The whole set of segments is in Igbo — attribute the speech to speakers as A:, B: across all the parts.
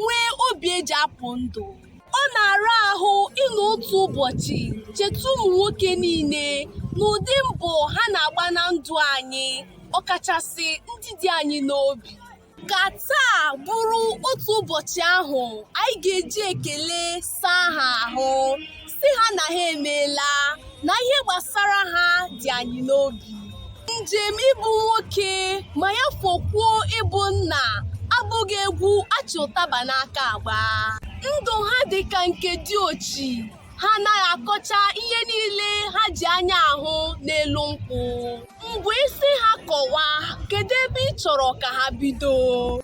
A: nwee obi eji apụ ndụ ọ na-ara ahụ ịnọ otu ụbọchị cheta ụmụ nwoke niile n'ụdị mbọ ha na-agba na ndụ anyị ọkachasị ndị dị anyị n'obi ka taa bụrụ otu ụbọchị ahụ anyị ga-eji ekele saa ha ahụ sị ha na ha emeela na ihe gbasara ha dị anyị n'obi njem ịbụ nwoke ma ya fokwuo ịbụ nna abụghị egwu achị ụtaba n'aka agba ndụ ha dị ka nke diochi ha anaghị akọcha ihe niile ha ji anya ahụ n'elu nkwụ mgbe ị sị ha kọwaa kedu ebe ị chọrọ ka ha bido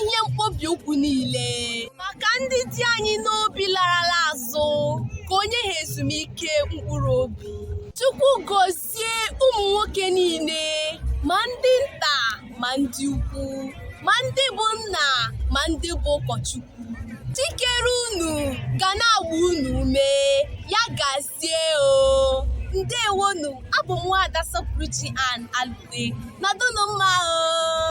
A: ihe mkpọbi ụkwụ niile maka ndị dị anyị n'obi larala azụ ka o nye ha ezumike mkpụrụ obi Chukwu gozie ụmụ nwoke niile ma ndị nta ma ndị ukwu ma ndị bụ nna ma ndị bụ ụkọchukwu Chi kere unu ga na-agba unu ume ya gazie o ndewonu abụ m nwaada sọpụrụchi an alụte nọdụnụ mma o